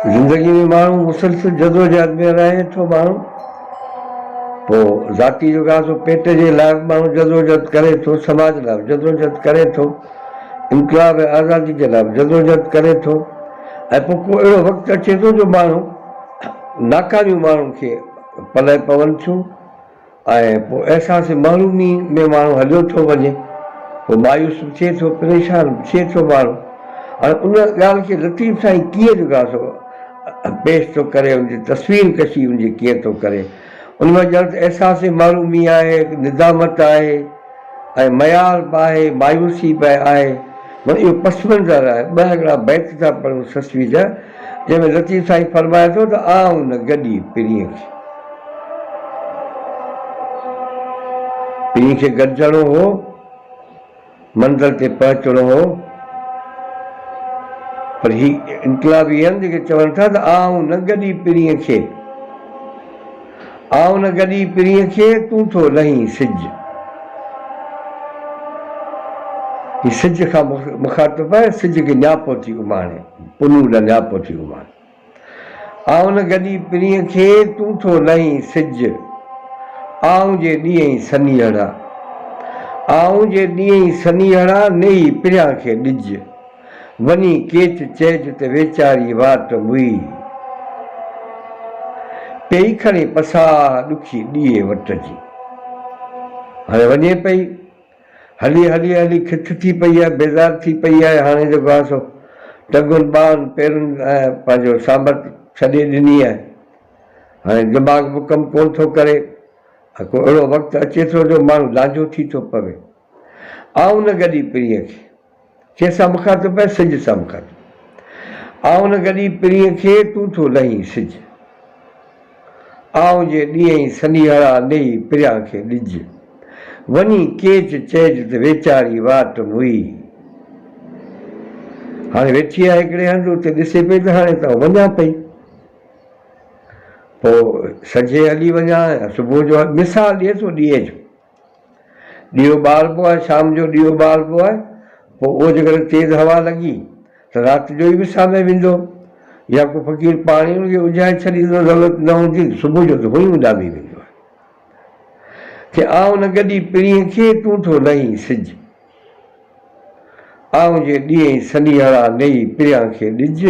زندگي ۾ ماڻهو مسلسل جدوجهد ۾ رهي ٿو ماڻهو پوء ذاتي جو گهاٽو پيٽ جي لاء به ماڻهو جدوجهد ڪري ٿو سماج لاء به جدوجهد ڪري ٿو انقلاب ۽ آزادي جي لاء به جدوجهد ڪري ٿو ۽ پوء ڪو اهڙو وقت اچي ٿو جو ماڻهو ناڪاريون ماڻهن کي پلئه پون ٿيون آهي ۽ پوء احساس محرومي ۾ ماڻهو هليو ٿو وڃي، پوء مايوس به ٿئي ٿو، پريشان به ٿئي ٿو ماڻهو ۽ ان ڳالهه کي لطيف سائين ڪيئن جڳاء ٿو ۽ پيش ٿو ڪري، ان جي تصوير ڪشي ان جي ڪيئن ٿو ڪري، ان مان ڄڻ ته احساس محرومي آهي، ندامت آهي. ۽ ميار به آهي، مايوسي به آهي، مگر اهو پس منظر آهي. ٻه هڪڙا بيت ٿا پڙهون سسوي جا، جنهن ۾ لطيف سائين فرمائي ٿو ته آء ان گڏي، پرينء کي. پرينء کي گڏجڻو هو، منزل تي پهچڻو هو، پر هي انقلابي آهن جيڪي چون ٿا ته آء ان گڏي، پرينء کي. آء ان گڏي پرينء کي، تون ٿو لهين سج. هي سج کان مخاطب آهي، سج کي نياپو ٿي اماڻي، پنهون ڏانهن نياپو ٿي اماڻي. آء ان گڏي پرينء کي، تون ٿو لهين سج. آئون جي ڏينهين سنيهڙا، آئون جي ڏينهين سنيهڙا، نيهي پريان کي ڏج. وڃي ڪيچ چيج تي ويچاري وات موئي پئي کڻي پساهه ڏکي ڏيئي وٽ جي. هاڻي وڃي پئي. هلي هلي هلي کٿ ٿي پئي آهي، بيزار ٿي پئي آهي، هاڻي جيڪو آهي سو ٽنگن ٻانهن پيرن ۽ پنهنجو سانڀت ڇڏي ڏني آهي. هاڻي دماغ به ڪم ڪونه ٿو ڪري ۽ ڪو اهڙو وقت اچي ٿو جو ماڻهو لانجهو ٿي ٿو پوي. آئون نه گڏي پرينء کي، کي سڀ کان ٿو پئي سج سڀ کان ٿو آئون نه گڏي پرينء کي، تون ٿو لهين سج آئون جي ڏينهين سنيهڙا نيهي پريان کي ڏج وڃي ڪيچ چئج ته ويچاري واٽ موئي هاڻي ويٺي آهي هڪڙي هنڌ اتي ڏسي پئي ته هاڻي ته آئون وڃان پئي پوء سجهي هلي وڃان يا صبح جو مثال ڏي ٿو ڏينهن جو ڏيئو ٻاربو آهي، شام جو ڏيئو ٻاربو آهي، پوء اهو جيڪڏهن تيز هوا لڳي ته رات جو ئي وسامي ويندو يا ڪو فقير پاڻ ئي ان کي اجهائي ڇڏيندو، ضرورت نه هوندي ته صبح جو ته هونئن ئي اڏامي ويندو آهي. ڪي آئون نه گڏي پرينء کي، تون ٿو نهين سج. آئون جي ڏيئين سنيهڙا، نيئي پريان کي ڏج.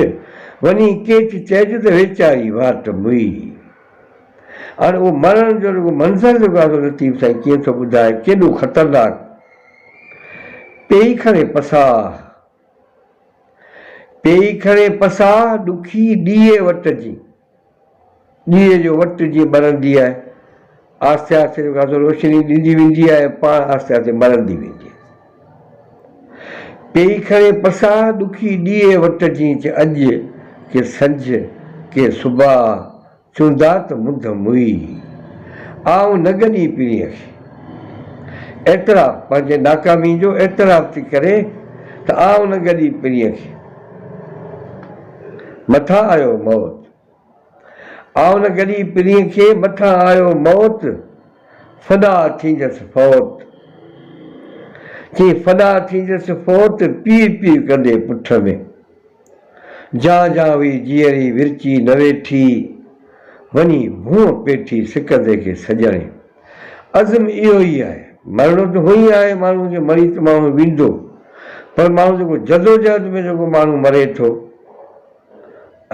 وڃي ڪيچ چئج ته ويچاري واٽ موئي. هاڻي اهو مرڻ جو رڳو منظر جيڪو آهي سو لطيف سائين ڪيئن ٿو ٻڌائي ڪيڏو خطرناڪ پيئي کڻي پساهه پيئي کڻي پساهه ڏکي ڏيئي وٽ جي ڏيئي جو وٽ جيئن ٻرندي آهي آهستي آهستي جيڪو آهي سو روشني ڏيندي ويندي آهي ۽ پاڻ آهستي آهستي مرندي ويندي آهي پيئي کڻي پساهه ڏکي ڏيئي وٽ جين چه اڄ ڪي سنجهه ڪي صبح چوندا ته منڌ موئي آئون نه گڏي پيرينء کي اعتراف پنهنجي ناڪامي جو اعتراف ٿي ڪري ته آئون نه گڏي پيرينء کي مٿان آيو موت آء نه گڏي پرينء کي، مٿان آيو موت، فدا ٿيندس فوت. چئين فدا ٿيندس فوت، پيء پيء ڪندي پٺ ۾. جان جان هئي جيئري ورچي نه ويٺي، وڃي ڀونء پيٺي سڪندي کي سڄڻي. عزم اهو ئي آهي، مرڻو ته هونئن ئي آهي ماڻهوء کي، مري ته ماڻهو ويندو، پر ماڻهو جيڪو جدوجهد ۾ جيڪو ماڻهو مري ٿو،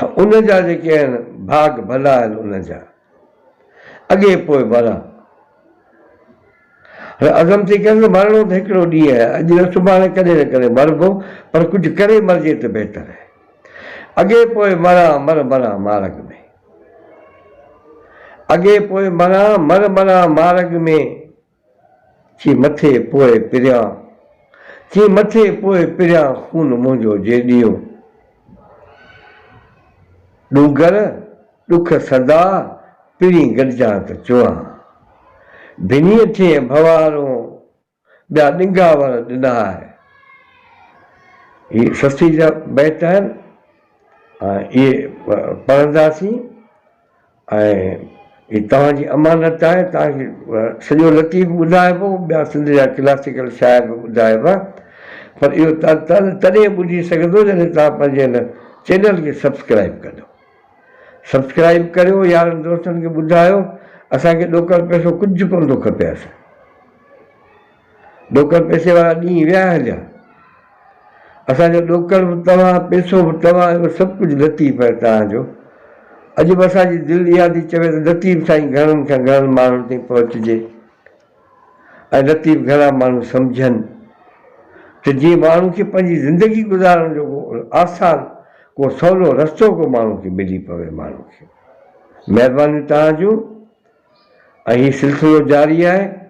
ان جا جيڪي آهن ڀاڳ ڀلا آهن ان جا اڳي پوء ڀلا هن عزم ٿي ڪيو ته مرڻو ته هڪڙو ڏينهن آهي اڄ نه سڀاڻي ڪڏهن نه ڪڏهن مربو پر ڪجهه ڪري مرجي ته بهتر آهي اڳي پوء مران مر مران مارگ ۾ اڳي پوء مران مر مران مارگ ۾. ٿي مٿي پوء پريان، ٿي مٿي پوء پريان خون منهنجو جي ڏيون. ڏونگر ڏک سدا پرين گڏجان ته چوان. ڀنيء ٿئين ڀنوارون ٻيا ڏنگا ور ڏنا آهي. هي سستي جا بيت آهن ۽ اهي پڙهنداسين. ۽ هي توهان جي امانت آهي توهان کي سڄو لطيف به ٻڌائبو ٻيا سنڌ جا ڪلاسيڪل شاعر به ٻڌائبا پر اهو تاله تڏهن ٻڌي سگهندو جڏهن توهان پنهنجي هن چينل کي سبسڪرائيب ڪندو سبسڪرائيب ڪريو يارن دوستن کي ٻڌايو اسان کي ڏوڪڙ پئسو ڪجهه ڪونه ٿو کپي اسان ڏوڪڙ پيسي وارا ڏينهن ويا هليا. اسان جو ڏوڪڙ به توهان، پيسو به توهان ۽ سڀ ڪجهه لطيف ۽ توهان جو. اڄ به اسان جي دل اها ٿي چوي ته لطيف سائين گهڻن کان گهڻن ماڻهن تائين پهچجي ۽ لطيف گهڻا ماڻهو سمجهن ته جيئن ماڻهو کي پنهنجي زندگي گذارڻ جو ڪو آسان ڪو سولو رستو ڪو ماڻهو کي ملي پوي ماڻهو کي. مهربانيون توهان جون ۽ هي سلسلو جاري آهي.